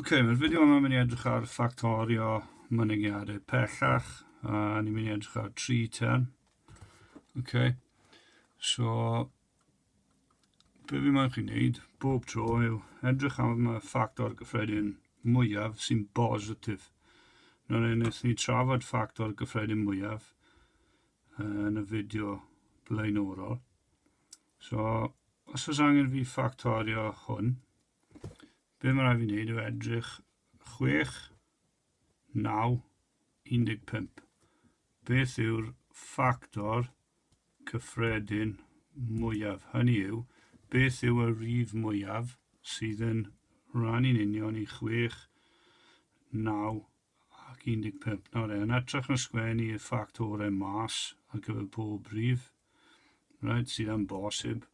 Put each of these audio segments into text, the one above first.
Ok, mae'r fideo yma mynd i edrych ar ffactorio mynygiadau pellach, a ni'n mynd i edrych ar tri term. Ok, so, be fi moyn chi'n neud, bob tro yw edrych am y ffactor gyffredin mwyaf sy'n bositif. Nawr ei wnaeth ni trafod ffactor gyffredin mwyaf yn y fideo blaenorol. So, os oes angen fi ffactorio hwn, be mae rhaid fi wneud yw edrych 6, 9, 15. Beth yw'r ffactor cyffredin mwyaf? Hynny yw, beth yw y rif mwyaf sydd yn rhannu'n union i 6, 9, ac 15 nawr e, yn atrych yn sgwen i'r ffactorau mas ar gyfer pob rhif, right, sydd am bosib.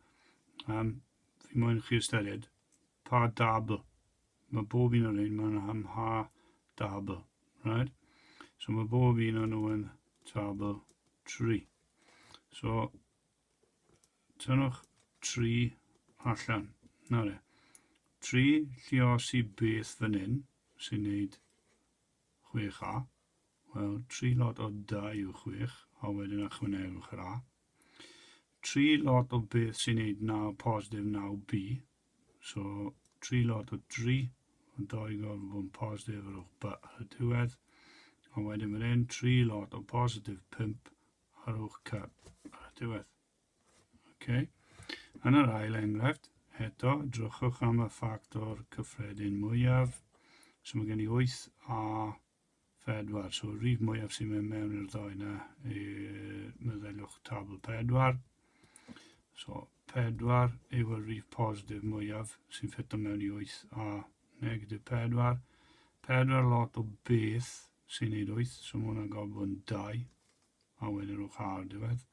Um, fi moyn chi ystyried pa dabl. Mae bob un o'r ein mae'n am ha dabl, right? So mae bob un o'n nhw yn tabl 3. So Tynnwch tri allan. Na re. Tri llios i beth fan hyn, sy'n neud 6A. Wel, tri lot o 2 yw 6, a wedyn ychwanegwch yr A. Tri lot o beth sy'n neud 9 positif 9B. So, tri lot o 3, ond 2 gorfod bod yn positif ar ôl B ar y diwedd. A wedyn fan hyn, tri lot o positif 5, Ar uwch cad, ar y diwedd. Okay. Yn yr ail enghraifft, eto, drychwch am y ffactor cyffredin mwyaf. So mae gen i 8 a 4. So y rif mwyaf sy'n mynd mewn i'r ddau yna, meddyliwch tabl 4. So 4 yw y rif positif mwyaf sy'n ffito mewn i 8 a negatif 4. 4 lot o beth sy'n neud 8, so mae hwnna'n gorfod bod yn 2. A wedyn nhw'n cael diwedd.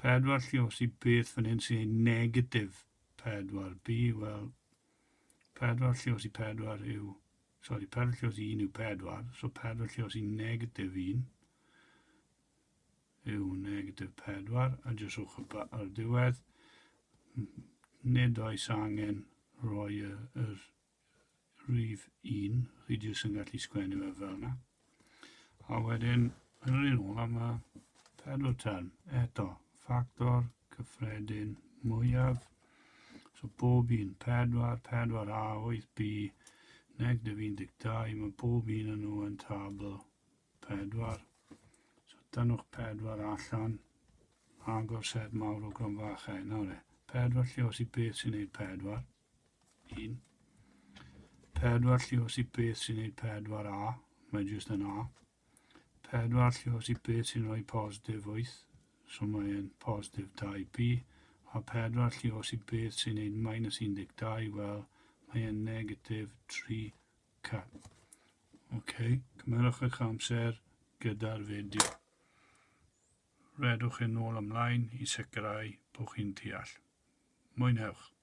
Pedwar lle os i beth fan hyn sy'n ei negatif pedwar. B, wel, pedwar lle os i pedwar yw... Sorry, pedwar lle os i un yw pedwar. So pedwar lle os i negatif un yw negatif pedwar. A jyst rhwch y ba ar diwedd. Nid oes angen rhoi y, yr rhif un, chi jyst yn gallu sgwennu fe fel yna. A wedyn, yn yr un ola mae pedwar term, eto, ffactor cyffredin mwyaf. So bob un, 4, 4A, 8B, negatif 12, mae bob un yn nhw yn tabl 4. So dynwch 4 allan, agor set mawr o gronfachau. Nawr e, 4 lle os i beth sy'n gwneud 4. 1. Pedwar llios i beth sy'n neud pedwar A, mae jyst yn A. Pedwar llios i beth sy'n rhoi positif 8, so mae'n positif 2B, a pedwar llios i beth sy'n neud minus 12, wel, mae'n negatif 3C. OK, cymerwch eich amser gyda'r fideo. Rhedwch yn ôl ymlaen i sicrhau bod chi'n deall. Mwynhewch!